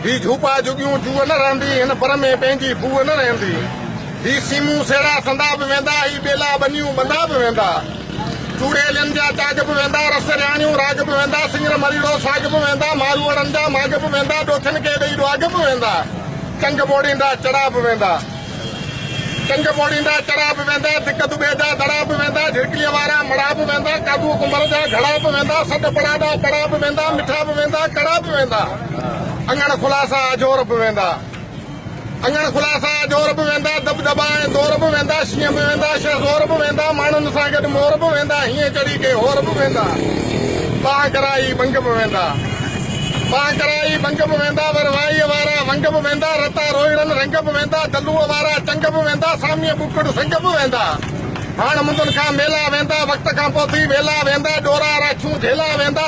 هي جهوپا جهڳيون جوء نه رهندي هن پر ۾ پنهنجي بوء نه رهندي هي سيمون سهيڙا سندا به ويندا، هي ٻيلا ٻنيون ٻندا به ويندا، چوڙيلين جا چاڳ به ويندا، رس رياڻيون راڳ به ويندا، سڱر مريڙو ساڳ به ويندا، ماروئڙن جا ماڳ به ويندا، ڏوٿين کي ڏئي ڏواڳ به ويندا، چنگ ٻوڙيندا چڙا به ويندا، چنگ ٻوڙيندا چڙا به ويندا، ڌڪ دٻي جا دڙا به ويندا، جهرڪليء وارا مڙا به ويندا، ڪاڌوء ڪنڀر جا گهڙا به ويندا، سڏ پڙاڏا پڙا به ويندا، مٺا به ويندا، ڪڙا به ويندا، اڱڻ خلاصا آجور به ويندا. اڱڻ کلا سا جور به ويندا دٻ دٻا ۽ زور به ويندا شينهن به ويندا شهه زور به ويندا ماڻهن سان گڏ مور به ويندا هيئن چڙهي ڪي هور به ويندا بانهه ڪرائي ڀنگ به ويندا بانهه ڪرائي ڀنگ به ويندا ور وائيء وارا ونگ به ويندا رتا روئڙن رنگ به ويندا دلوء وارا چنگ به ويندا ساميء ٻڪڙ سنگ به ويندا هاڻ مندن کان ميلا ويندا، وقت کان پوء ٿي ويلا ويندا، ڏورا راڇون جهيلا ويندا،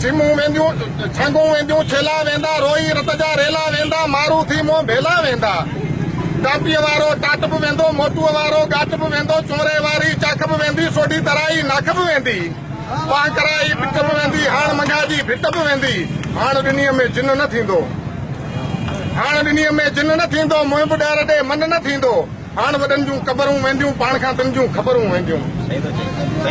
سيمون وينديون، ڇنگون وينديون ڇيلا ويندا، روئي رت جا ريلا ويندا، مارو ٿي منهن ڀيلا ويندا، ٽاپيء وارو ٽاٽ به ويندو، موٽوء وارو ڳاٽ به ويندو، چونري واري چاک به ويندي، سوڍي ترائي ناک به ويندي، پاهه ڪرائي پٽ به ويندي، هاڻ منگها جي ڀٽ به ويندي، هاڻ ڏني ۾ جن نه ٿيندو، هاڻ ڏني ۾ جن نه ٿيندو، منهن به ڏهر ڏي من نه ٿيندو. هاڻ وڏن جون قبرون وينديون پاڻ کان تن جون خبرون وينديون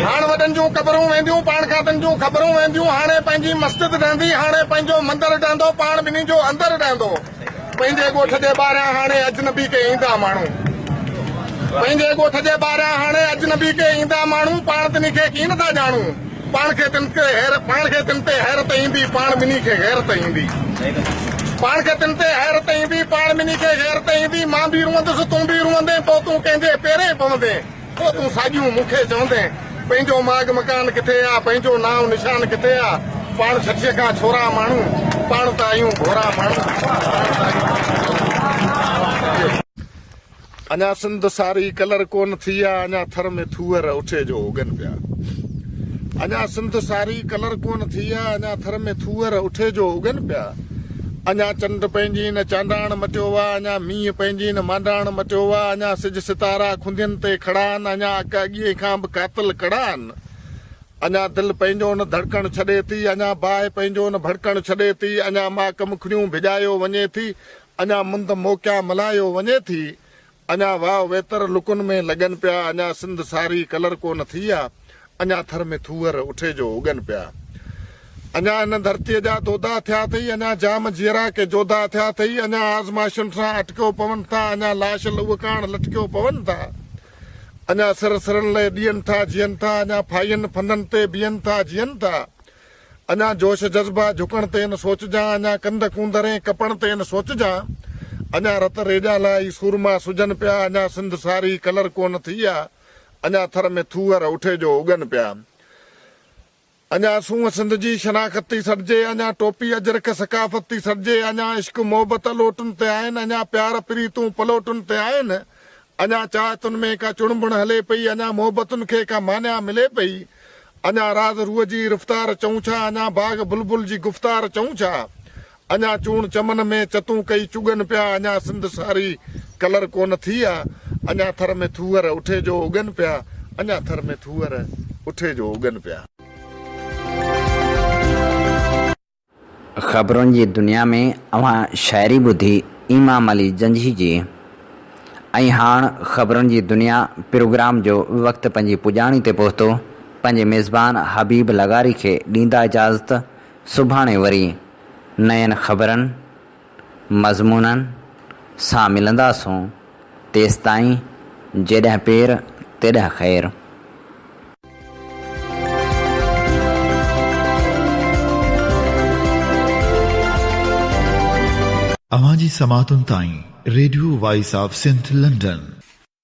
هاڻ وڏن جون قبرون وينديون پاڻ کان تن جون خبرون وينديون هاڻي پنهنجي مسجد ڊهندي هاڻي پنهنجو مندر ڊهندو پاڻ ٻنهي جو اندر ڊهندو پنهنجي ڳوٺ جي ٻاهريان هاڻي اجنبي ڪي ايندا ماڻهو پنهنجي ڳوٺ جي ٻاهريان هاڻي اجنبي ڪي ايندا ماڻهو پاڻ تنهن کي ڪين ٿا ڄاڻون پاڻ کي تن تي حيرت پاڻ کي تن تي حيرت ايندي پاڻ ٻنهي کي غيرت ايندي پاڻ کي تن تي حيرت ايندي پاڻ ٻنهي کي غيرت ايندي مان به روئندس تون به روئندين پوء تون ڪنهن جي پيرين پوندين پوء تون ساڳيون مون کي چوندين پنهنجو ماڳ مڪان ڪٿي آ پنهنجو نانء نشان ڪٿي آ پاڻ ڇٺيء کان ڇورا ماڻهو پاڻ ته آهيون ڀورا ماڻهو اڃا سنڌ ساري ڪلر ڪون ٿي آ اڃا ٿر ۾ ٿوئر اٺي جو اگن پيا اڃا سنڌ ساري ڪلر ڪون ٿي آ اڃا ٿر ۾ ٿوئر اٺي جو اگن پيا اڃا چنڊ پنهنجي نه چانڊاڻ مٽيو آ اڃا مينهن پنهنجي نه مانڊاڻ مٽيو آ اڃا سج ستارا کندين تي کڙا آهن اڃا اڪ اڳيئي کان به قاتل ڪڙا آهن اڃا دل پنهنجو نه ڌڙڪڻ ڇڏي ٿي اڃا باهه پنهنجو نه ڀڙڪڻ ڇڏي ٿي اڃا ماڪ مکڙيون ڀڄايو وڃي ٿي اڃا مند موڪيا ملهايو وڃي ٿي، اڃا واء ويتر لڪن ۾ لڳن پيا، اڃا سنڌ ساري ڪلر ڪونه ٿي آ، اڃا ٿر ۾ ٿوهر اٺي جو اگن پيا، اڃا هن ڌرتيء جا دودا ٿيا اٿئي، اڃا جام جيئرا ڪي جوڌا اٿيا اٿئي، اڃا آزمائشن سان اٽڪيو پون ٿا، اڃا لاش لهو ڪاڻ لٽڪيو پون ٿا، اڃا سر سرن لئه ڏين ٿا جيئن ٿا، اڃا ڦاهين ڦندن تي بيهن ٿا جيئن ٿا. اڃا جوش جذبا جهڪڻ تي نه سوچجان اڃا ڪنڌ ڪونڌرين ڪپڻ تي نه سوچجان اڃا رت ريڄان لاء ئي سورما سجن پيا اڃا سنڌ ساري ڪلر ڪونه ٿي آ اڃا ٿر ۾ ٿوهر اٺي جو اڳن پيا اڃا سونهن سنڌ جي شناخت ٿي سڏجي اڃا ٽوپي اجرڪ ثقافت ٿي سڏجي اڃا عشق محبت الوٽن تي آهن اڃا پيار پريتون پلوٽن تي آهن اڃا چاهتن ۾ ڪا چڻبڻ هلي پئي، اڃا محبتن کي ڪا مانيٰ ملي پئي، اڃا راز روح جي رفتار چئون ڇا، اڃا باغ بلبل جي گفتار چئون ڇا، اڃا چوڻ چمن ۾ چتون ڪئي چڳن پيا، اڃا سنڌ ساري ڪلر ڪونه ٿي آ، اڃا ٿر ۾ ٿوهر اٺي جو اگن پيا، اڃا ٿر ۾ ٿوهر اٺي جو اگن پيا. خبرن جي دنيا ۾ اوهان شاعري ٻڌي امام علي جنجهي جي ۽ هاڻ خبرن جي دنيا پروگرام جو وقت پنهنجي پڄاڻي تي پهتو پنهنجي ميزبان حبيب لغاري کي ڏيندا اجازت سڀاڻي وري نين خبرن مضمونن سان ملنداسون، تيستائين جيڏهن پير تيڏهن خير. اوهان جي سماعتن تائين radio voice of Sindh London.